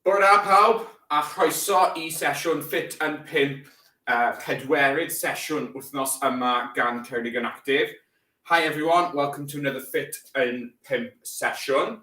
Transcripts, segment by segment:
Bore da pawb, a chroeso i sesiwn Fit and 5, uh, pedwerydd sesiwn wythnos yma gan Ceredigion Active. Hi everyone, welcome to another Fit and 5 sesiwn.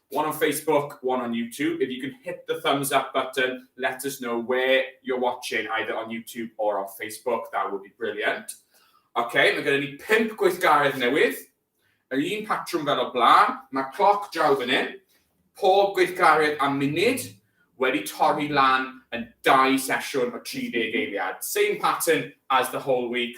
One on Facebook, one on YouTube. If you can hit the thumbs up button, let us know where you're watching, either on YouTube or on Facebook. That would be brilliant. OK, mae gen i ni pimp gweithgaredd newydd. Yr un patrwm fel o blaen. Mae cloc draw fan hyn. Pob gweithgaredd am munud wedi torri lan yn dau sesiwn o 30 eiliad. Same pattern as the whole week,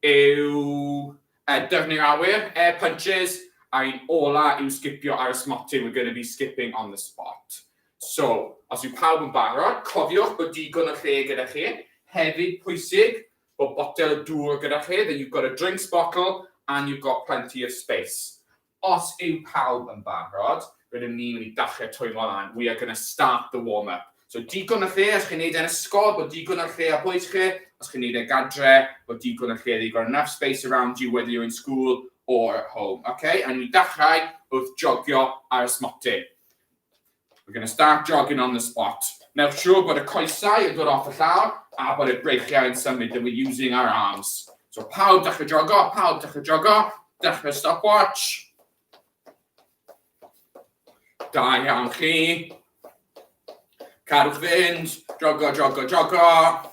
yw e, dyfnir awyr, air punches, a un ola yw sgipio ar y smotyn, we're gonna be skipping on the spot. So, os yw pawb yn barod, cofiwch bod digon o lle gyda chi, hefyd pwysig bod botel o dŵr gyda chi, that you've got a drinks bottle and you've got plenty of space. Os yw pawb yn barod, rydym ni'n mynd i dachlau'r twymo lan, we are going to start the warm up. So digon o lle os chi'n neud e'n ysgol, bod digon o lle ar bwys chi, os chi'n neud e gadre, bod digon o lle that you've got enough space around you whether you're in school or at home. Ok, a ni'n mynd i dachlai wrth jogio ar ysmotyn. We're going to start jogging on the spot. Newch siŵr bod y coesau yn dod off y llawr a bod y breichiau yn symud and we're using our arms. So pawb dechrau jogo, pawb dechrau jogo, dechrau stopwatch. Da iawn chi. Cadwch fynd, jogo, jogo, jogo.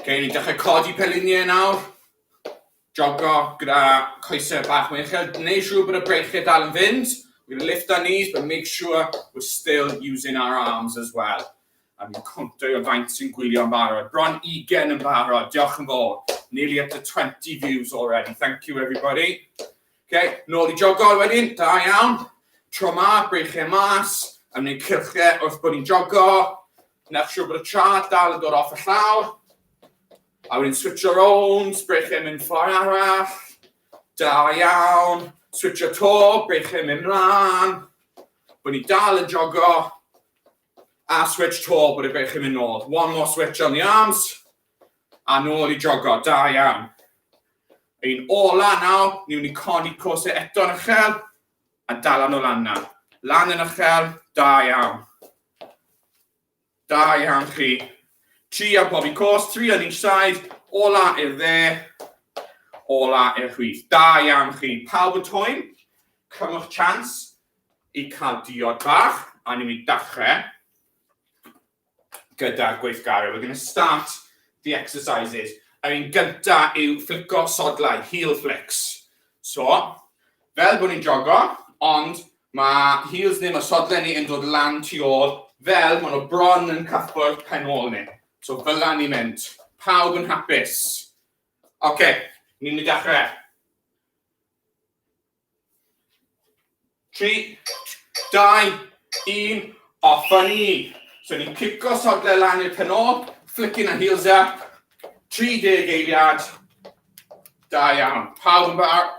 Gewn ni dechrau codi peliniau nawr. Jogo gyda coesau bach mwy uchel, gwneud siŵr bod y breichiau dal yn fynd, we're gonna lift our knees but make sure we're still using our arms as well. A fi'n cwntro i o faint sy'n gwylio'n barod, bron 20 yn barod, diolch yn fawr, nearly up to 20 views already, thank you everybody. Ok, nôl i jogo wedyn, da iawn, tro ma, breichiau mas, a wneud cylchau wrth bod ni'n jogo, wneud siŵr bod y traed dal yn dod off y llawr, A wedyn switcho rownd, brechu a mynd ffordd arall. Da iawn. Switcho to, brechu a mynd mlaen. Bod ni dal yn jogo. A switch to, bod y brechu mynd nôl. One more switch on the arms. A nôl i jogo, da iawn. Ein ola nawr, ni'n mynd i codi cosau eto yn uchel. A dal lan o lan nawr. Lan yn uchel, da iawn. Da iawn chi. Tri ar bob un cwrs, tri ar each side, ola i'r dde, ola i'r chwith. Da iawn chi. Pawb yn twy'n, cymwch chance i cael diod bach, a ni'n mynd dachrau gyda'r gweithgarau. We're going to start the exercises. Yr un gynta yw fflico sodlau, heel flicks. So, fel bod ni'n jogo, ond Mae heels ni, mae sodle ni yn dod lan tu ôl, fel maen nhw bron yn cyffwrdd pen ôl ni. So fela ni'n mynd. Pawb yn hapus? Oce, okay, ni'n mynd i dechrau. 3, 2, 1, off a ni. So ni'n cico sodle lan i'r pen ôl, flicking a heels up, 30 eiliad. Da iawn. Pawb yn barod?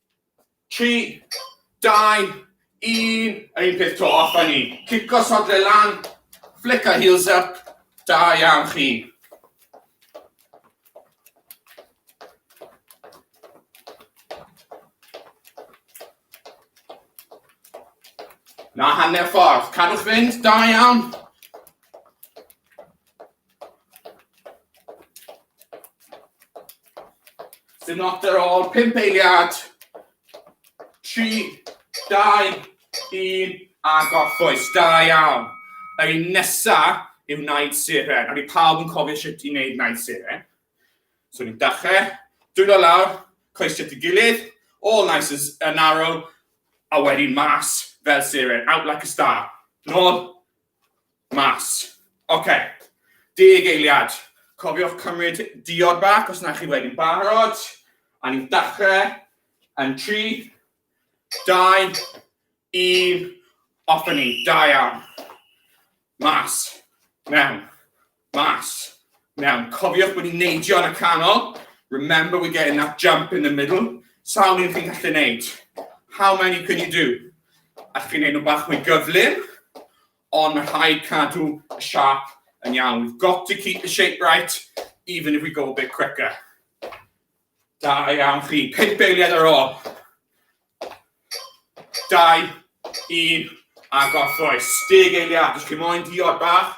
3, 2, 1, yr un peth to, off a ni. Cico sodle lan, flick our heels up, da iawn chi. Na hanner ffordd, cadwch fynd, da iawn. Dim not ar ôl, pimp eiliad. Tri, dau, un, a goffwys. Da iawn. Yr un nesa yw naid siren. Ond i pawb yn cofio sut i wneud naid siren. So ni'n dachrau, dwylo lawr, coesio ti gilydd, all nice as an arrow, a wedyn mas fel siren, out like a star. Nôl, Mas. Oce. Deg eiliad. Cofiwch cymryd diod bach os na chi wedi'n barod. A ni'n dachrau yn 3, 2, 1, off ni. Da iawn. Mas. Mewn. Mas. Iawn, cofiwch bod ni'n neidio yn y canol. Remember we're getting that jump in the middle. Sawl un chi'n gallu neud? How many can you do? Allwch chi'n neud nhw bach mwy gyflym, ond mae rhaid cadw y siap yn iawn. We've got to keep the shape right, even if we go a bit quicker. Da iawn chi. Pimp eiliad ar ôl. Dau, un, a gorffwys. Deg eiliad. Os chi moyn diod bach,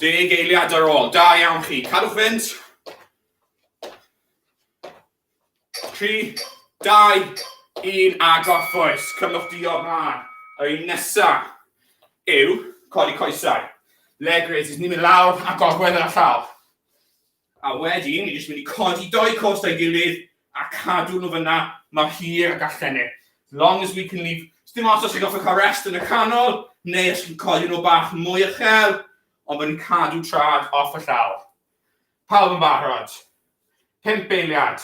Deg eiliad ar ôl. Da iawn chi. Cadwch fynd. 3, 2, 1 a gorffwys. Cymwch di o'r mlaen. Yr un nesaf yw codi coesau. Leg raises, ni'n mynd lawr a gorwedd yn y llaw. A wedyn, ni jyst mynd i codi dou cost a'i gilydd a cadw nhw fyna mor hir ag allen ni. As long as we can leave. Sdim os os chi'n goffa cael rest yn y canol, neu os chi'n codi nhw bach mwy uchel, ond bod ni'n cadw trad off y llawr. Pawb yn barod. Pimp eiliad.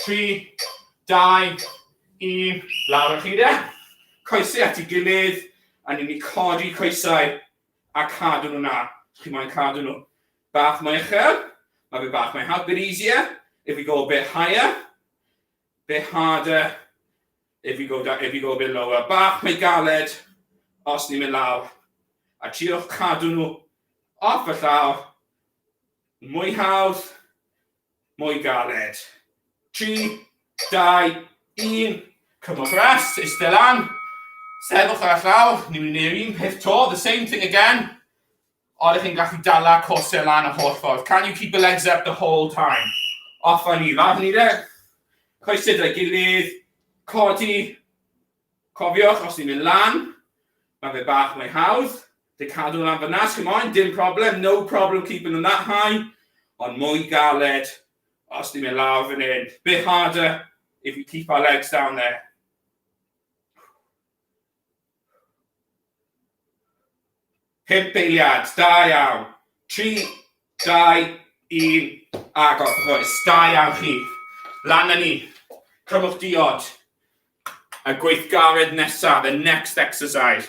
Tri, dau, un, lawr y chi de. Coesau at ei gilydd, a ni'n mynd i codi coesau a cadw nhw na. Chi'n moyn cadw nhw. Bach mwy uchel, mae fe bach mwy hard, bit easier. If we go a bit higher, bit harder. If we go, down, if we go a bit lower, bach mwy galed. Os ni'n mynd lawr, a triwch cadw nhw off y llawr, mwy hawdd, mwy galed. 3, 2, 1, cymwch rest, eistedd lan, sefwch ar y llawr, ni'n mynd i'r un peth to, the same thing again. Oeddech chi'n gallu dala corsau lan y holl ffordd? Can you keep the legs up the whole time? Off a ni, lawr ni de. Coesau dau gilydd, codi. Cofiwch, os ni'n mynd lan, mae fe bach mwy hawdd. Dy cadw lan fyna, os chi'n moyn, dim problem, no problem keeping them that high. Ond mwy galed, os ni'n mynd lawr fan hyn. Bit harder if we keep our legs down there. Pump eiliad, da iawn. Tri, dau, un, agor. Oes, da iawn chi. Lan yn ni. Crymwch diod. Y gweithgaredd nesaf, the next exercise.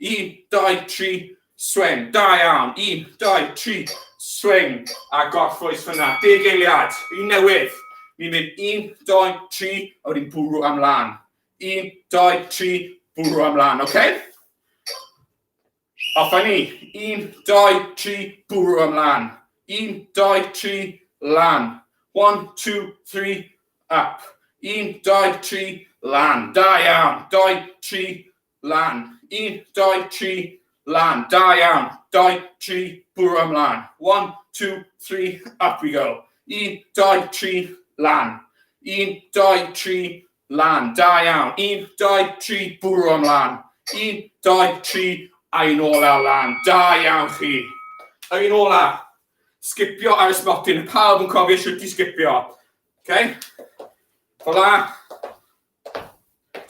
Un, dau, tri, swing. Da iawn. Un, dau, tri, swing. A gorffwys fyna. Deg eiliad. Un newydd. Ni'n mynd un, dau, tri, a wedyn bwrw am lan. Un, dau, tri, bwrw am lan, oce? Okay? Off ni. Un, dau, tri, bwrw am lan. Un, dau, tri, lan. One, two, three, up. Un, dau, tri, lan. Da iawn. Dau, tri, Lan. Un, dau, tri, lan. Da iawn. Dau, tri, bwrw am lan. One, two, three, up we go. Un, dau, tri, lan. Un, dau, tri, lan. Da iawn. Un, dau, tri, bwrw am lan. Un, dau, tri, a'i nôl ar lan. Da iawn chi. A'i nôl ar. Sgipio ar y smotin. Pawb yn cofio sut i sgipio. Okay? Hola.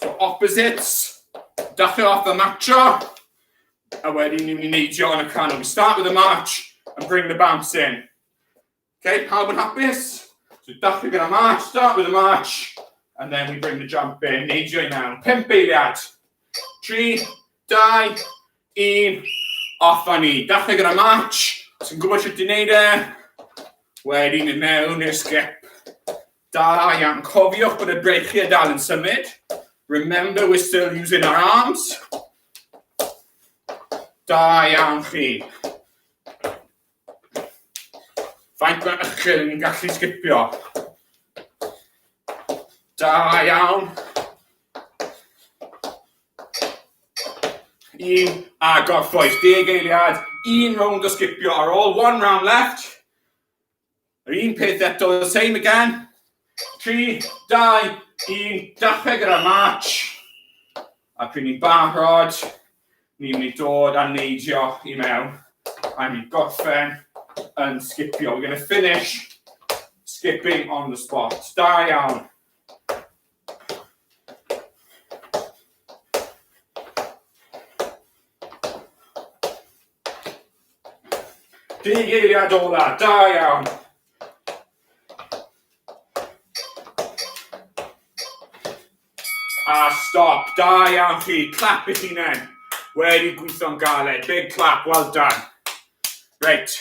So opposites, dechrau off y matcho, a wedyn ni'n mynd i neidio yn y canol. We start with a march and bring the bounce in. Okay, pawb yn hapus? So dechrau gyda march, start with a march, and then we bring the jump in, neidio i mewn. Pimp eiliad. Tri, dau, un, off a ni. Dechrau gyda march, sy'n gwybod sut i wneud e, wedyn i mewn i'r skip. Da iawn, cofiwch bod y breichiau dal yn symud. Remember we're still using our arms. Da iawn chi. Faint mae ychyl yn ni'n gallu sgipio. Da iawn. Un a gorffwys, deg eiliad, un rownd o sgipio ar ôl, one round left. Yr un peth eto, the same again. 3, 2, 1, dapeg gyda march. A pryd ni'n barod, ni'n mynd i dod a neidio i mewn. A ni'n gorffen yn sgipio. We're going to finish skipping on the spot. Da iawn. Bugeiliad ola, da iawn! A stop, da iawn chi, clap eich hunain. Wedi gweithio'n galed, big clap, well done. Reit,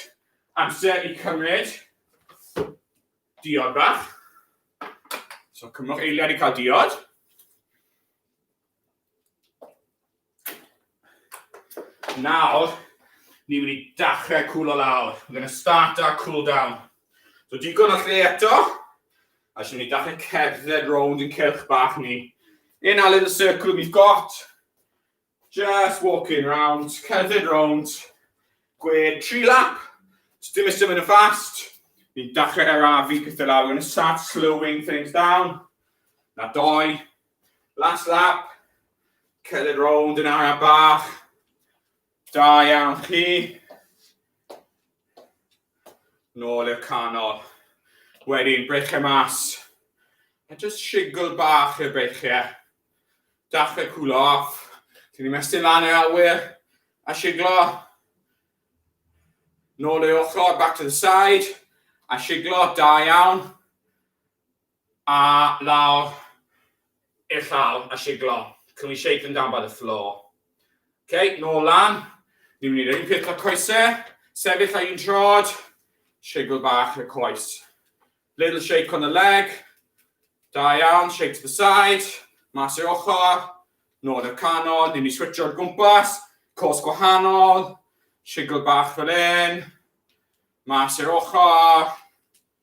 amser i cymryd diod bach. So cymrwch eiliad i cael diod. Nawr, ni wedi dachrau cwlo lawr. We're going to start our cool down. So digon o lle eto. A sy'n mynd i dachrau cerdded round yn cylch bach ni. In our little circle we've got. Just walking round, cerdded round. Gwed, tri lap. So dim ystod mynd yn fast. Ni'n dachrau arafu pethau lawr. We're going to start slowing things down. Na doi. Last lap. Cerdded rownd yn araf bach. Da iawn chi. Nôl i'r canol. Wedyn, breichiau mas. A just shigl bach i'r breichiau. Dachrau cwlo off. Ti'n ni'n mestyn lan yr awyr. A shiglo. Nôl i'r ochr, back to the side. A shiglo, da iawn. A lawr i'r llawr a siglo. Can we shake them down by the floor? Ok, nôl lan. Ni'n mynd i wneud un peth gyda coesau. Sefyll ar un trod. Shigl bach y coes. Little shake on the leg. Da iawn, shake to the side. Mas i'r ochr. Nôl i'r canol. Ni'n mynd i switcho'r gwmpas. Cos gwahanol. Shigl bach fel hyn. Mas i'r ochr.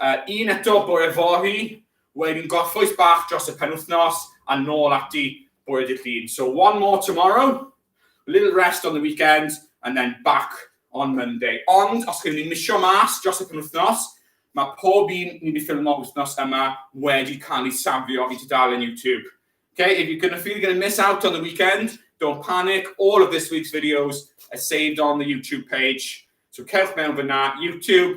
Uh, un eto bore fory, wedyn gorffwys bach dros y penwthnos, a nôl ati bore dydd llun. So one more tomorrow, a little rest on the weekend, and then back on Monday. Ond, os chi'n mynd misio mas dros y penwthnos, mae pob un ni wedi ffilmo wythnos yma wedi cael ei safio i tudalen YouTube. Okay, if you're going to feel you're going to miss out on the weekend, don't panic. All of this week's videos are saved on the YouTube page. So cerwch mewn fyna, YouTube,